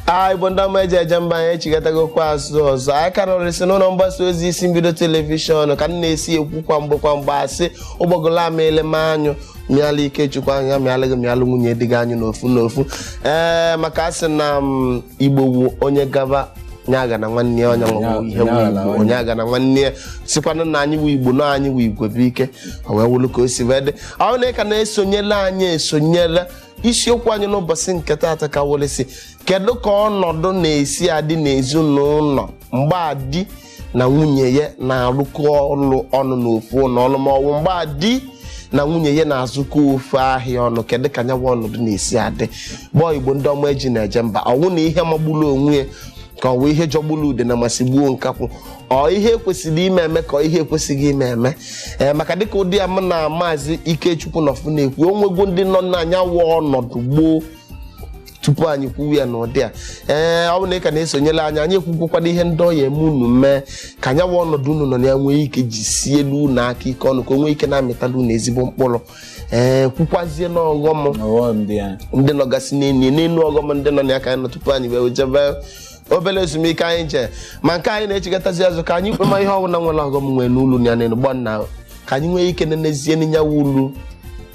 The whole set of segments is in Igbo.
a igbo ndị ọma eji eje mba anyị echigatagokwu azụ ọzọ anyị ka nọrịsị n'ụlọ mgbasa ozi isi mbido telivishọn ka m na-esi ekwu kwa mgbe kwa mgbe a sị ụgbọgụlụ amịala m anyụ mịala ikechukwu anyụ mịala gị mịalụ nwunye di gị anyụ n'ofu n'ofu ee maka a sị na m igbo wụ onye gaba onye aghana nwanne ya onye nwe ihe wụ onye aghana nwanne ya sịkwanụ na anyị wụ igbo na anyị wụ igwe bụ ike o wee wụlụ ka o si wee dị ọ wụ na ị ka na-esonyela anyị esonyela isiokwu anyị n'ụbọchị nke taata ka wụrịsị kedu ka ọnọdụ na-esi adị n'ezinụlọ mgbe di na nwunye ya na-arụkọ ọrụ ọnụ n'ofu ụlọ ọrụ ma ọ wụ mgbe di na nwunye ya na-azụkọ ofu ahịa ọnụ kedu ka nya wụ ọnọdụ na-esi adị gbọọ igbo ndị ọma eji na-eje mba ọ wụ na ihe magburu onwe ya ka ọ wụ ihe jọgburu udene ma sigbuo nkakwụ ọ ihe e kwesịrị ime eme ka ọ ihe ekwesịghị ime eme ee maka dịka ụdị a m na maazị ikechukwu nọfụ na-ekwu o nwego ndị nọ na nya wụ ọnọdụ gboo tupu anyị kwuwe ya n'ụdị a ee ọ wụ na ị ka na-esonyela anyị anyị ekwukwakwana ihe ndị ọ ya-eme unu mee ka nya wụ ọnọdụ unu nọ na ya nwee ike jisielu unu aka ike ọnụ ka o nwee ike na-amịtala unu ezigbo mkpụrụ ee kwukwazie n'ọghọm ọghọm dị ya ndị nọgasị n'enyi n'elu ọghọm ndị nọ na ya ka anyị nọ tupu anyị wee jebe obere ezumike anyị je ma nke anyị na-echigatazi azụ ka anyị kpema ihe ọbụla nwere ọghọm nwee n'ulu ya n'elu gbọ nna ka anyị nwee ike nenezie na nya wụ ulu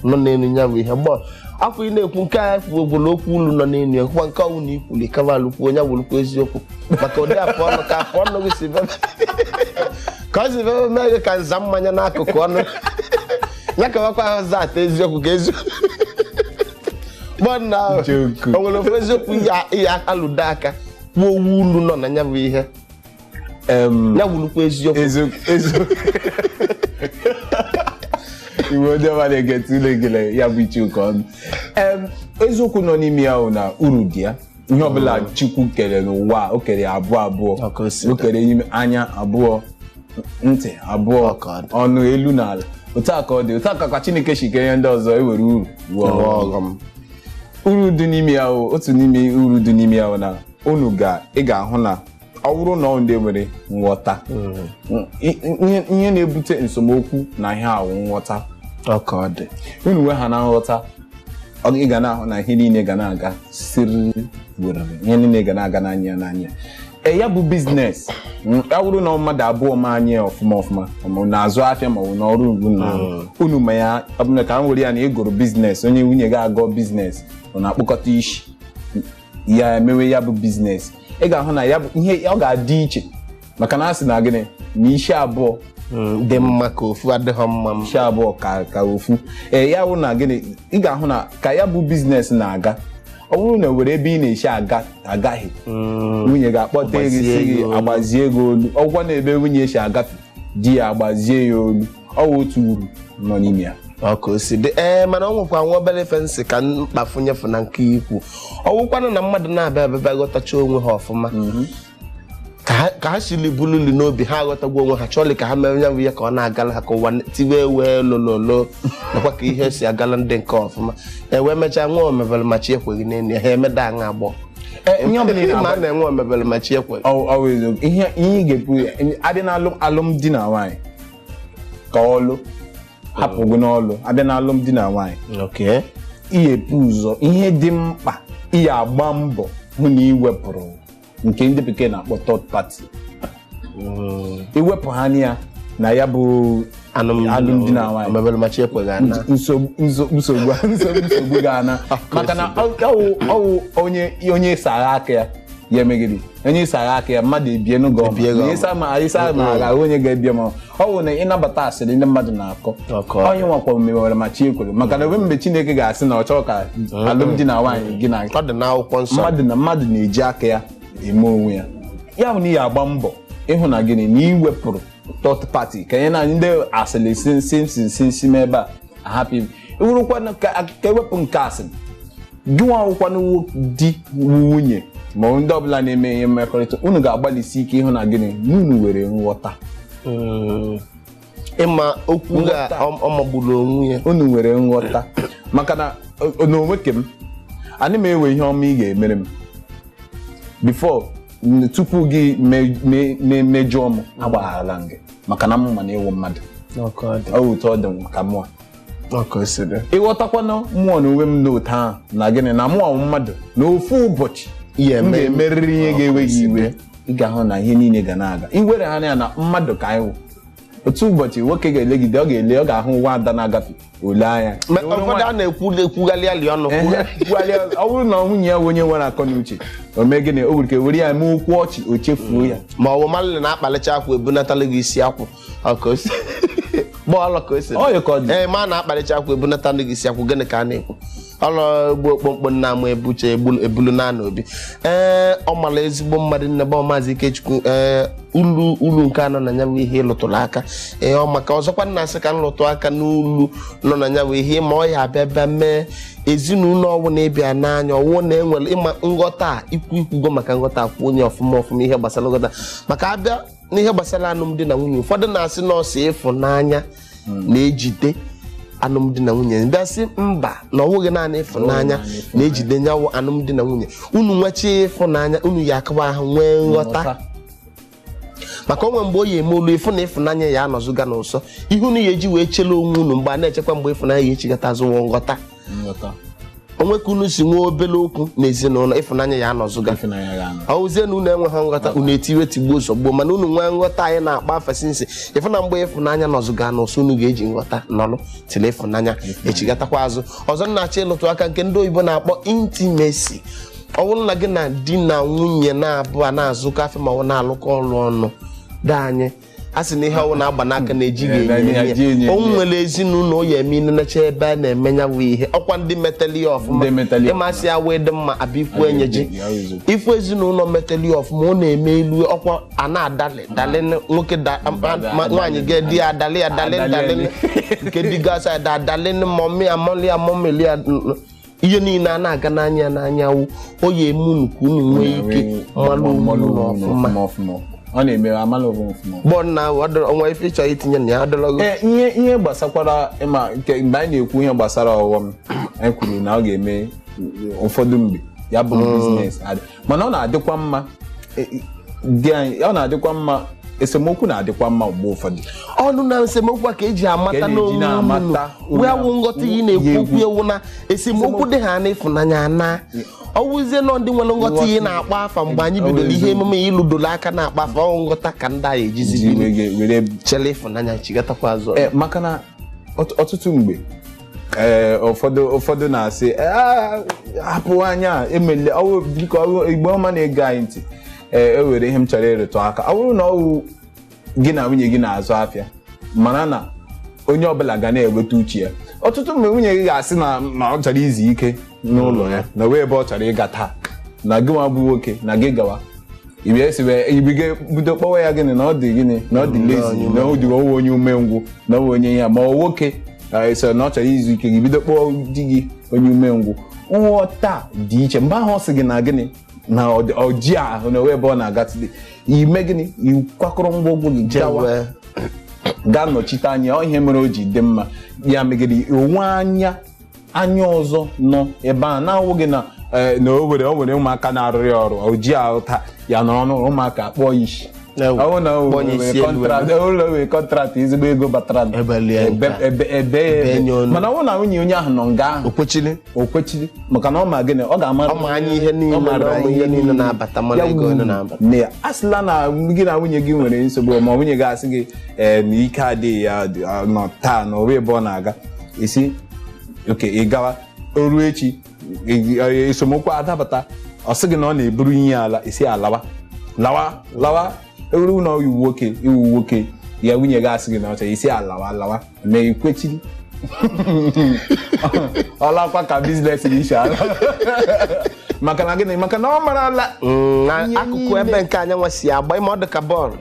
nọ n'elu ya bụ ihe gbọ afọ ị na-ekwu nke anyị kwuo gwụrụ okwu ulu nọ n'elu ya kwukwa nke ọ wụ na i kwuli ka a malụkwu onye gwụrụkwu eziokwu maka ụdị afọ ọnụ ka afọ ọnụ gị si bebe ka ọ si bebe mee gị ka nza mmanya n'akụkụ ọnụ ya kawakwa ahụ zat eziokwu ka eziokwu gbọ nna o nwere ofu eziokwu ya- ya alụdo aka kwuo ọ wụ ulu nọ na ya bụ ihe Em, ya wụlụkwa eziokwu eziokwu eziokwu igbo ndị ọma na-ege tụle gele ya bụ iche ụka ọnụ Em, eziokwu nọ n'ime ya bụ na uru dị ya ihe ọbụla chukwu kere n'ụwa a, o kere ya abụọ abụọ Ọ ka o si dị. o kere anya abụọ ntị abụọ Ọ ka ọ dị. ọnụ elu na ala otu a ka ọ dị otu a ka kwa chineke si kee ihe ndị ọzọ e nwere uru nwee Enwe ọghọm. ọghọm uru dị n'ime ya o otu n'ime uru dị n'ime ya ọ na unu ga ị ga-ahụ na ọ bụrụ na ọ ndị nwere nghọta mm, i- ihe ihe na-ebute nsemokwu na ihe a wụ nghọta ọ ka ọ dị unu nwehana nghọta ị ga na-ahụ na ihe niile ga na-aga siri werere ihe niile ga na-aga n'anya n'anya e ya bụ biznes mm, ya bụrụ na mmadụ abụọ ma anya ya ọfụma ọfụma ma ọ n'ịzụ afịa ma ọ bụ n'ọrụ ọ wụ na unu ma ya ọ bụ na ka m were ya na ị gụrụ biznes onye nwunye gị agụọ biznes unu akpọkọta isi ya emewe ya bụ biznes ị ga-ahụ na ya bụ ihe ọ ga-adị iche maka na a sị na gịnị na isi abụọ Mm, dị mma ka ofu adịghọ mma m isi abụọ ka ka ofu ee ya bụ na gịnị ị ga-ahụ na ka ya bụ biznes na-aga ọ bụrụ na nwere ebe ị na-esi agahie Mm, nwunye ga-akpọta gị Agbazie sị gị gị olu. agbazie gị olu ọkwa na ebe nwunye si agafe di ya agbazie ya olu ọ wụ otu uru nọ n'ime ya ọ ka o si dị ee mana ọ nwekwa nwa obere ife m sị ka m kpafunyefu na nke i kwu ọ wụkwanụ na mmadụ naabọ abịa ghọtacha onwe ha ọfụma ka ha- ka ha siri bululi n'obi ha aghọtago onwe ha chọọlị ka ha mere ya bụ ihe ka ọ na-agala ha ka ụwa n- tiwe wee lololo nakwa ka ihe si agala ndị nke ọfụma e wee mechaa nwa omebere ma chi ekweghị n'elu ya ha emeda aṅa agbọ Eh, ihe ọbụla ị ma na-agwa- na-enwe omebere ma chi ekwe Ọ- ọ bụ eziokwu. ihe ihe ị ga-ekwu ya, abịa na alụm- alụmdi na nwaanyị ka ọlụ hapụ gị n'ọlụ abịa na alụmdi na nwaanyị okay ị ya-ebu ụzọ ihe dị mkpa ị ya-agba mbọ hụ na ị wepụrụ nke ndị bekee na-akpọ third party iwepụ ha na ya na ya bụ alụmdi na nwaanyị omebere machi ekweghị ana nsogbu nsogbu nsogbu nsogbu ga-ana maka na ọ- ọwụ ọwụ onye onye ịsara aka ya ya emegide onye ịsara aka ya mmadụ ebie gị ọma Ebie gị na ọma. ịsa ma ịsa ma aghara onye ga-ebie ma ọ bụ na ịnabata asịrị ndị mmadụ na-akọ Ọkọ. onye nwakwa mewere ma chi ekwere maka na ebe mgbe Chineke ga-asị na ọ chọọ ka alụmdi na nwaanyị gị na ọ dị n'akwụkwọ nsọ mmadụ na mmadụ na-eji aka ya eme onwe ya ya bụ na ị ya-agba mbọ ịhụ na gịnị na ị wepụrụ third party ka nye na ndị asịrị sinsinsinsi m ebe a ahapụ ibu iwurukwa ka ewepụ nke asịrị gị nwa wụkwanụ di nwunye ma ndị ọbụla na-eme ihe mmekọrịta unu ga-agbalịsi ike ịhụ na gịnị na unu nwere nghọta ịma okwu ga Nghọta. ọ- ọ magburu onwe ya unu nwere nghọta maka na o- n'onwe ke m anị m ewe ihe ọma ị ga-emere m before n- tupu gị me- me- me- mejọọ m agbagharala m gị maka na m ma na ị wụ mmadụ ọ ka ọ dị ọ wụ otu ọ dị m ka mụwa ọkụ siri ị ghọtakwanụ mụwa na onwe m n'otu ahụ na gịnị na mụwa wụ mmadụ na ofu ụbọchị Ihe m eme- ga-emerịrị ihe ga-ewe gị iwe ị ga-ahụ na ihe niile ga na-aga i were ha na ya na mmadụ ka anyị wụ otu ụbọchị nwoke ga-elegide ọ ga-ele ọ ga-ahụ nwa ada na-agafe o lee anya Ma Ewere ụfọdụ nwa- a na-ekwu ekwughalị alị ọnụ Ehe, kwugharịa ọzọ. ọ bụrụ na nwunye ya bụ onye nwere akọ na uche o mee gịnị o nwere ike were ya mee okwu ọchị o chefuo ya ma ọ bụ malị na-akpalicha akwụ ebunatalụ gị isi akwụ ọ ka o si bọọlụ ka o si Ọ yị ka ọ dị. ee ma a na-akpalicha akwụ ebunatalụ gị isi akwụ gịnị ka a na-ekwu ọlọ egbu okpokpo nna amụ ebuche egbulu- ebulu na anụ obi ee ọ mara ezigbo mmadụ nne bụ maazị ikechukwu ee ulu ulu nke anọ na ya bụ ihe ị lụtụrụ aka ee ọ maka ọzọkwa m na-asị ka m lụtụ aka n'ulu nọ na ya bụ ihe ma ọ ya abịa bịa mee ezinụlọ ọwụ na ị bịa na ya ọwụ na enwere ịma nghọta a, ikwu ikwugo maka nghọta akwụ onye ọfụma ọfụma ihe gbasara nghọta maka a bịa n'ihe gbasara alụmdi na nwunye ụfọdụ na-asị na ọ sọ ịfụnanya hmm. na-ejide alụmdi na nwunye ndị asị mba na ọ bụghị naanị ịfụnanya na-ejide nya wụ alụmdi na nwunye unu nwechi ịfụnanya unu ya akaba ahụ nwee nghọta maka onwe mgbe o yi eme olu ị fụ na ịfụnanya ya anọzụga n'ụsọ ihe unu ya eji wee chele onwe unu mgbe a na-echekwa mgbe ịfụnanya ya echigata azụ wụ nghọta nghọta o nwee ka unu si nwee obere okwu na ezinụlọ ịfụnanya ya anọzụga ịfụnanya ya anọ ọwụzie na unu enweghị nghọta unu etiwe tigbuo zọgbuo mana unu nwee nghọta anyị na-akpa afa since ị fụ na mgbe ịfụnanya nọzụga na ụsọ unu ga-eji nghọta nọlụ till ịfụnanya echigatakwa azụ ọzọ m na-achọ ịlụtụ aka nke ndị oyibo na-akpọ intimacy ọ bụrụ na gị na di na nwunye naabọ na-azụkọ afịa ma ọ na-alụkọ ọrụ ọnụ di anyị a sị na ihe ọwụ na-agba n'aka na-ejighị Eh, na enye ihe eji enye enye o enye. nwere ezinụlọ ya eme ị nenechaa ebe a na-eme ya bụ ihe ọkwa ndị metali ya ọfụma Ndị metali ya ịmasị ya wee dị mma a bịa ikwu enye ji Ya wee zụ. ị fụ ezinụlọ metali ya ọfụma ọ na-eme elu ọkwa a na-adalị dalị nwoke da- ma- ma- nwaanyị ga di ya adalị ya dalị Adalị, dalị nke di gasị ada adalị mọmị ya mọlị ya mọmịlị ya ihe niile a na-aga n'anya na nya wụ ọ ya-eme unu ka unu nwee ike mmanụ mmanụ unu unu ọfụma ọfụma ọfụma ọ na-eme a mala ọbụ ọfụma bọọ na ọ dọrọ- ọnwa ife ị chọ itinye na ya ọ dọrọ gị Ee, ihe ihe gbasakwara ịma nke mgbe anyị na-ekwu ihe gbasara ọghọm anyị kwuru na ọ ga-eme ụfọdụ mgbe ya bụ biznes adị mana ọ na-adịkwa mma e, e, di anyị ọ na-adịkwa mma esemokwu na-adịkwa mma mgbe ụfọdụ ọ wụ na esemokwu a ka eji Ka amata e ji n'onwe na-amata unu onye wee wụ nghọta ihe na-ekwu na-ekwu. okwu ewu na esemokwu dị ha n'ịfụnanya na ọwụzie na ọ ndị nwere nghọta ihe na-akpa afa mgbe anyị bidoro ihe emume ya ị lụdoro aka na-akpa afa ọ nghọta ka ndị anyị ejizi Ji biri were- were chere ịfụnanya chigatakwa azụ Eh, maka na ọt- ọtụtụ mgbe ee ụfọdụ ụfọdụ na-asị "Ee, a- hapụ anya emele ọwụ biko ọwụ Igbo ọma na-ege anyị ntị ee e nwere ihe m chọrọ ịrụtụ aka ọ bụrụ na ọwụ gị na nwunye gị na-azụ afịa mara na onye ọbụla ga na-eweta uche ya ọtụtụ mgbe nwunye gị ga-asị na na ọ chọrọ izu ike n'ụlọ ya na o nwere ebe ọ chọrọ ịga taa na gị nwa bụ nwoke na gị gawa ibia si wee ibiga bido kpọwa ya gịnị na ọ dị gịnị na ọ dị lazy na ọ dị ọwụ onye umengwụ na ọwụ onye ya ma ọ nwoke eh, sị na ọ chọrọ izu ike gị bido kpọọ di gị onye umengwụ nghọta dị iche mgbe ahụ ọ sị gị na gịnị na ọ dị- ọ ji ahụ na ebe ọ na-aga tụdị ime gịnị ị kwakọrọ ngwongwo gị gawa Jewe. gaa nọchite anya ọ ihe mere o ji dị mma ya megide onwe anya anya ọzọ nọ ebe a na-awụghị na eh, na o nwere o nwere ụmụaka na-arụrụ ya ọrụ o ji ahụ taa ya nọrọ n'ụlọ ụmụaka akpọọ ya sị Ewu, Ọ bụ na o kpọọ ya were isi elu kọntraktị o nwere kọntraktị ezigbo ego batara nụ. Ebelie ya Ebe- nke a. ebe- ebe ya Ebe ebe. nye onu. mana ọ bụ na nwunye onye ahụ nọ nga ahụ o kwechili o kwechiri maka na ọ ma gịnị ọ ga-amara Ọ ma anya ihe niile, ọ ma mara ụmụ ihe niile na-abata, mara Ya ego wuru. ole na-abata. Nne ya, a sịla na gị na nwunye gị nwere nsogbu ma nwunye gị asị gị ee na ike adịghị ya dị- ọ nọ taa na o nwe ebe ọ na-aga ị sị oke ị gawa o ruo echi ị- ị- esemokwu adapụta ọ sị gị na ọ na-eburu ihe ala ị sị ya lawa lawa lawa ọ wụrụ na ị wụ nwoke ị wụ nwoke ya nwunye gị asị gị na ọcha ị sị ya lawa lawa ma i kwechiri ọ lakwa ka biznes gị si ala maka na gịnị maka na ọ marala Mm, na Ihe akụkụ niile. ebe nke anyanwụ si agba ị ma ọ dị ka bọọlụ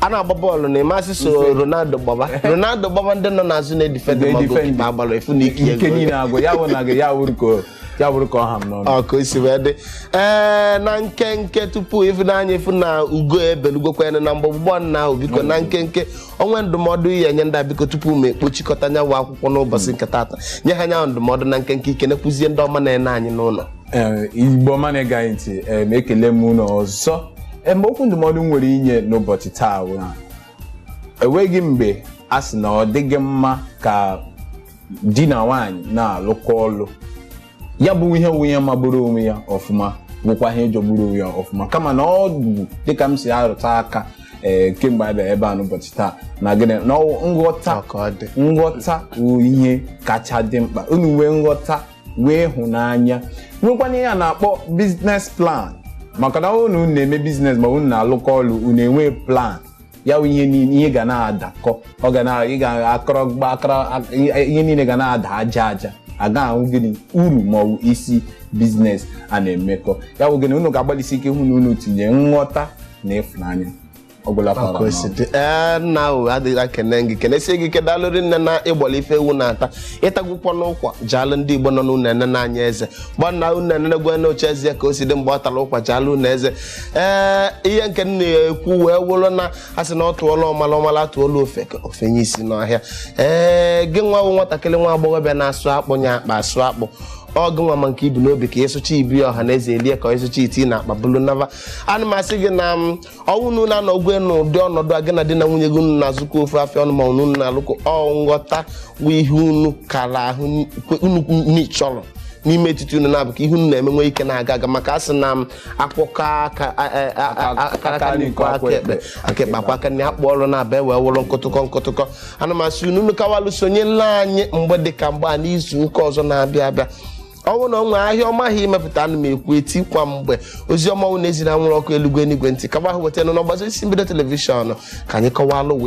a na-agba bọọlụ na ị ma sị sọ Ronaldo gbaba Ronaldo gbaba ndị nọ n'azụ na-edifendị ma Ga-edifend. gokipa agbara efu na ike ike niile agwụ ya wụ na gị ya wụrụ ka o- ya wụrụ ka ọ ha m n'ọnụ ọ ka o si wee dị ee na nkenke tupu ịfụnanya ị fụ na ugo ebelugokwana na mgbagbu ugbuna ahụ biko na nkenke o nwe ndụmọdụ ị ya-enye ndị a biko tupu m ekpochikọta nya wụ akwụkwọ n'ụbọchị nke taata nye ha nya wụ ndụmọdụ na nkenke i kenekwuzie ndị ọma na-ene anyị n'ụlọ Ee, Igbo ọma na-ege anyị ntị ee, ma ekele m unu ọzọ Ee, ma okwu ndụmọdụ m nwere inye n'ụbọchị taa bụ na enweghị mgbe a sị na ọ dịghị mma ka di na nwaanyị na-alụkọ ọlụ ya bụ ihe wụ ihe magburu onwe ya ọfụma bụkwa ihe jọgburu onwe ya ọfụma kama na ọ bụ dịka m si arụta aka ee kemgbe anyị bịara ebe a n'ụbọchị taa na gịnị na ọ wụ nghọta Ọ ka ọ dị. nghọta wụ ihe kacha dị mkpa unu nwee nghọta nwee ịhụnanya nwekwana ihe a na-akpọ biznes plan maka na unu na-eme biznes ma unu na-alụkọ ọlụ unu enwee plan ya bụ ihe niile ihe ga na-adakọ ọ ga na ị ga akọrọ gba akara ihe niile ga na-ada aja aja a ga-ahụ gịnị uru ma ọ bụ isi biznes a na-emekọ ya bụ gịnị unu ga-agbalịsi ike hụ na unu tinye nghọta na ịfụnanya ọ gwụla fara n'ọnụ. Kwesịrị. Ee, nna o adịghị akene gị kenesie gị ike daalụ rinne na ị gbọla ife ewu na-ata ị tagwụkwọnụ ụkwa jaalụ ndị Igbo nọ n'ụlọ enene anya eze gbanna unu enenegwe na ọcha eze ka o si dị mgbe ọ tara ụkwa jaalụ unu eze ee ihe nke m na-ekwu wee wụrụ na a sị na a tụọla ọmala ọ mala tụọla ofeke o fenye isi n'ọhịa ee gị nwa bụ nwatakịrị nwa agbọghọbịa na-asụ akpụ nya akpa asụ akpụ ọ gị nwa ma nke i bu n'obi ka ị sụcha i bu ya ọha na eze elie ka ị sụcha i tii n'akpa bulu nava a na m asị gị na ma ọ wụ na unu anọgwe n'ụdị ọnọdụ a gị na di na nwunye gị unu na-azụkọ ofu afịa ọnụ ma unu na-alụkọ ọ nghọta bụ ihe unu kara ahụ n- kwe- unu n'ịchọrọ n'ime etiti unu naabụ ka ihe unu na-eme nwee ike na-aga aga maka a sị na m akwụkọ aka nri kwọọ aka ekpe aka ekpe akwọọ aka nri akpụ ọrụ na-abịa wee wụrụ nkụtụkọ nkụtụkọ ana m asị unu nụkawalụ sonyela anyị mgbe dị ka mgbe a n'izu ụka ọzọ na-abịa abịa ọ bụrụ na ọ nwee ahịa ọma ahụ imepụta ana m ekwu eti kwa mgbe ozi ọma wụ na-eziri anwụrụ ọkụ eluigwe n'igwe ntị kaba ahụ weta nụ n'ọgbazi isi mbido telivishọn ka anyị kọwalụ wee